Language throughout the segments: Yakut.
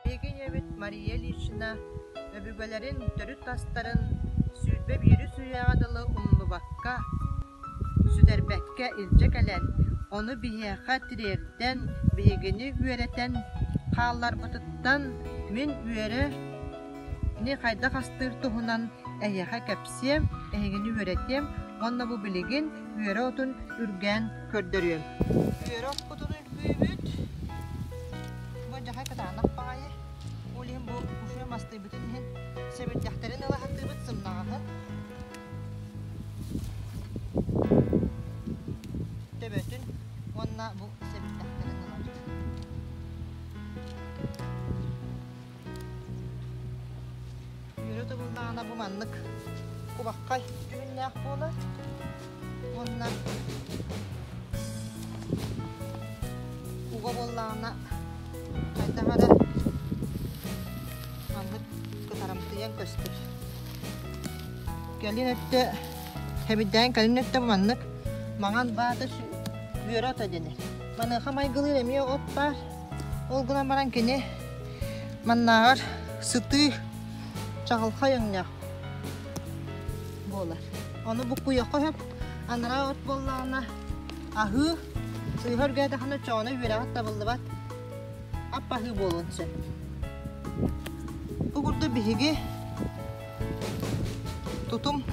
Биһиги ийэбит Мария Ильична өбүгэлэрин төрүт тастарын сүүрбэ биирис үйэҕэ дылы умнубакка, сүтэрбэккэ илдьэ кэлэн, ону биһиэхэ тириэрдэн, биһигини үөрэтэн хаалларбытыттан мин үөрэни хайдах астыыр туһунан эһиэхэ кэпсиэм, эһигини үөрэтиэм уонна бу билигин үөрэ отун үргээн көрдөрүөм. Үөрэ оппутун үлбүйбүт. Бу дьахай кытаанах баҕайы. Ол иһин бу буфе мастыйбытын иһин сэбирдэхтэрин ылаһаттыыбыт сымнаҕаһын. Төбөтүн уонна бу сэбирдэхтэрин ылар. Үөрэ тыбыллаана бу маннык кубаххай түһүннээх буолар. Уонна уга буоллаҕына хайдах эрэ маннык кытарамтыйан көстөр. Кэлин өттө хэмирдээн кэлин өттө маннык маҥан баата үөрэ ото дэнэр. Маныаха майгылыыр эмиэ от баар. Ол гынан баран кини маннааҕар сытыы чаҕылхай өҥнөөх буолар. Ону буккуйахха сөп, анараа от буоллаҕына аһыы, сыыһа-өргээтэххинэ чоҕуна үөрэҕит табыллыбат, ап-аһыы буолуон сөп. Бу курдук биһиги тутум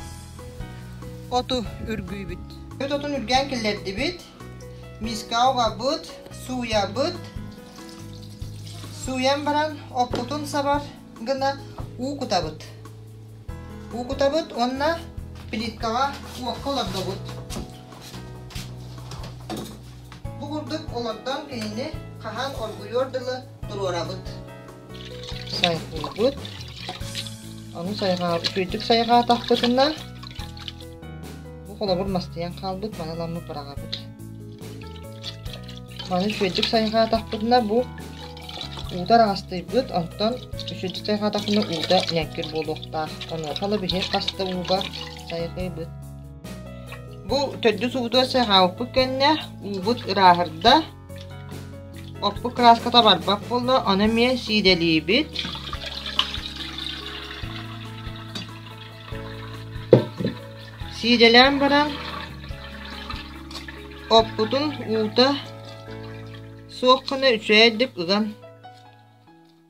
оту үргүүбүт. Отун үргээн киллэрдибит. миска угабыт сууйабыт сууйан баран оппутун сабар гына уу кутабыт уу кутабыт уонна плиткаҕа уокка олордобут бу курдук олордон кинини хаһан оргуйуор дылы туруорабыт Сайҕыыбыт. Ону сайҕаа... Үчүгэйдик сайҕаатахпытына, бу холобур мастыйан хаалбыт, маналаммыт быраҕабыт. Маны үчүгэйдик сайҕаатахпытына, бу уута араастыйбыт, онтон үчүгэйдик сайҕаатахпына уута ньэҥкир буолуохтаах. Онуохала биһи хаста ууга сайҕыыбыт. Бу төрдүс ууту сайҕаабыппыт кэннэ, уубут ырааһырда, Оппут кырааската барбат буолла, ону эмиэ сиидэлиибит. Сиидэлээн баран, оппутун уута суох гына үчүгэйдик ыган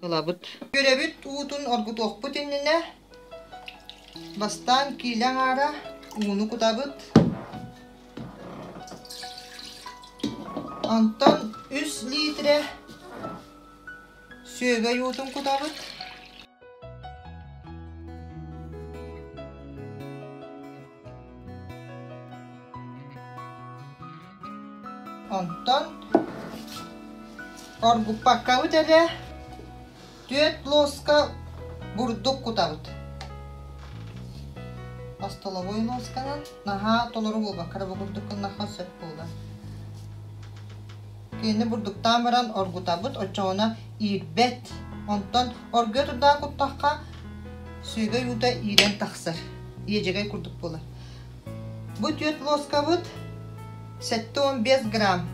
ылабыт. Үөрэбит уутун оргутуохпут иннинэ бастаан киилэ аҥаара ууну кутабыт. Онтон 3 литрэ сүөгэй уутун кутабыт. Онтон оргуппаккабыт эрэ түөрт лоска бурдук кутабыт. Остолобуой лосканан наһаа толору буолбакка бу курдуккун нахан сөп буолар. Кини бурдуктаан баран оргутабыт, оччоҕуна иирбэт. Онтон Оргуйа турдаҕа куттахха, сүөгэй уута иирэн тахсар. Иэдьэгэй курдук буолар. Бу түөрт лоскабыт сэттэ уон биэс грамм.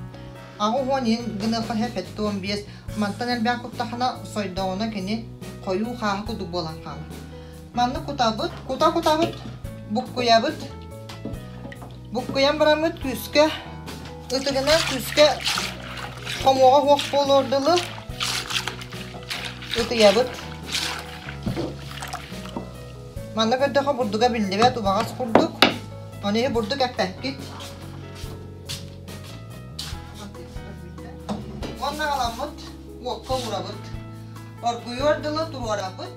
Аҕыс уон иһин гыныахаһа сэттэ уон биэс. Мантан элбээх куттаххына, сойдоҕуна кини хойуу хааһа курдук буолан хаалар. Маннык кутабыт, кута-кутабыт, буккуйабыт. Буккуйан бараммыт күүскэ, ытыгынан күүскэ хомуоҕа суох буолуор дылы ытыйабыт. Манна көрдөхө бурдуга биллибэт убаҕас курдук. Ону иһи бурдук эппэккит. Уонна халаммыт уокка уурабыт. Оргуйуор дылы туруорабыт.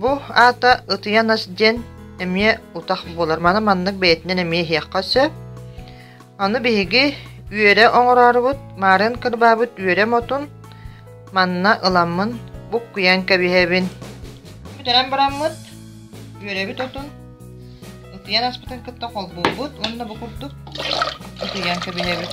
Бу аата ытыйа нас диэн эмиэ утах буолар. Маны маннык бэйэтинэн эмиэ иһиэххэ сөп. Аны биһиги үөрэ оҥороорубут, марын кырбаабыт үөрэ мотун манна ыламмын буккуйан кэбиһэбин. Бүтэрэн бараммыт үөрэбит отун ытыйан аспытын кытта холбуубут уонна бу курдук ытыйан кэбиһэбит.